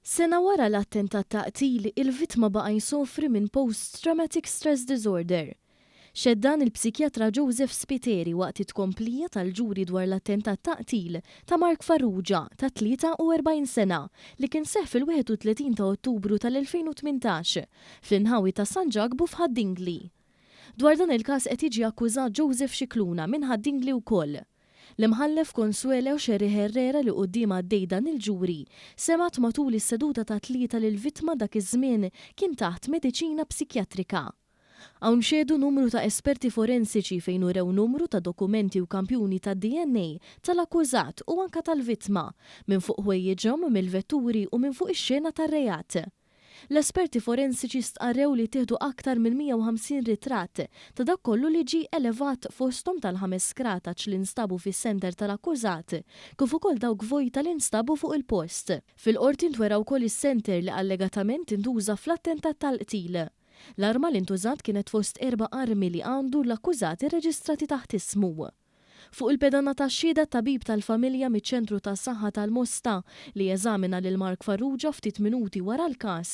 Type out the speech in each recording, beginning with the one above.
Sena wara l-attentat ta' qtil, il-vittma baqa' jsofri minn post-traumatic stress disorder. Xehed dan il-psikjatra Joseph Spiteri waqt it-tkomplija tal-ġuri dwar l-attentat ta' qtil ta' Mark Farrugia, ta' 43 sena, li kien seħħ fil-31 ta' Ottubru tal-2018 fl-inħawi ta' San Ġakbu f'Ħad-Dingli. Dwar dan il-każ qed jiġi akkużat Joseph Scicluna minn Ħad-Dingli wkoll. L-Imħallef Consuelo Xerri Herrera li quddiemha għaddej dan il-ġuri, semgħet matul is-seduta tat-Tlieta li l-vittma dak iż-żmien kien taħt mediċina psikjatrika. Hawn xehdu numru ta' esperti forensiċi fejn urew numru ta' dokumenti u kampjuni tad-DNA tal-akkużat u anke tal-vittma, minn fuq ħwejjiġhom, mill-vetturi u minn fuq ix-xena tar-reat. L-esperti forensiċi stqarrew li ttieħdu aktar minn 150 ritratt ta' dak kollu li ġie elevat fosthom tal-ħames skrataċ li nstabu fis-sender tal-akkużat kif ukoll dawk vojta li nstabu fuq il-post. Fil-Qorti ntwera wkoll is-senter li allegatament intuża fl-attentat tal-qtil. L-arma li ntużat kienet fost erba' armi li għandu l-akkużat irreġistrati taħt ismu. Fuq il-pedana tax-xhieda t-tabib tal-familja miċ-Ċentru tas-Saħħa tal-Mosta, li eżamina lil Mark Farrugia ftit minuti wara l-każ,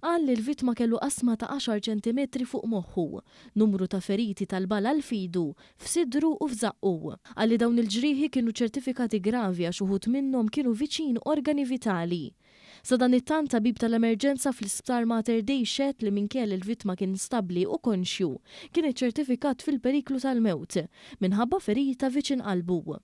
qal li l-vittma kellu qasma ta' għaxar ċentimetri fuq moħħu, numru ta' feriti tal-bala għal f'idu, f'sidru u f'żaqqu. Qal li dawn il-ġrieħi kienu ċertifikati gravi għax uħud minnhom kienu viċin organi vitali. Sadanittant, tabib tal-emerġenza fl-Isptar Mater Dei xehed li minkejja li l-vittma kien stabbli u konxju, kien iċċertifikat fil-periklu tal-mewt, minħabba ferita viċin qalbu.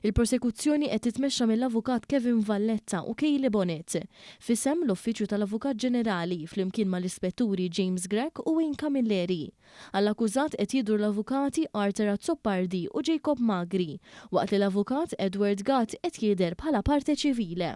Il-Prosekuzzjoni qed titmexxa mill-Avukat Kevin Valletta u Kayleigh Bonett, f'isem l-Uffiċċju tal-Avukat Ġenerali, flimkien mal-Ispetturi James Grech u Wayne Camilleri. Għall-akkużat qed jidhru l-Avukati Arthur Azzopardi u Jacob Magri, waqt li l-Avukat Edward Gatt qed jidher bħala parte civile.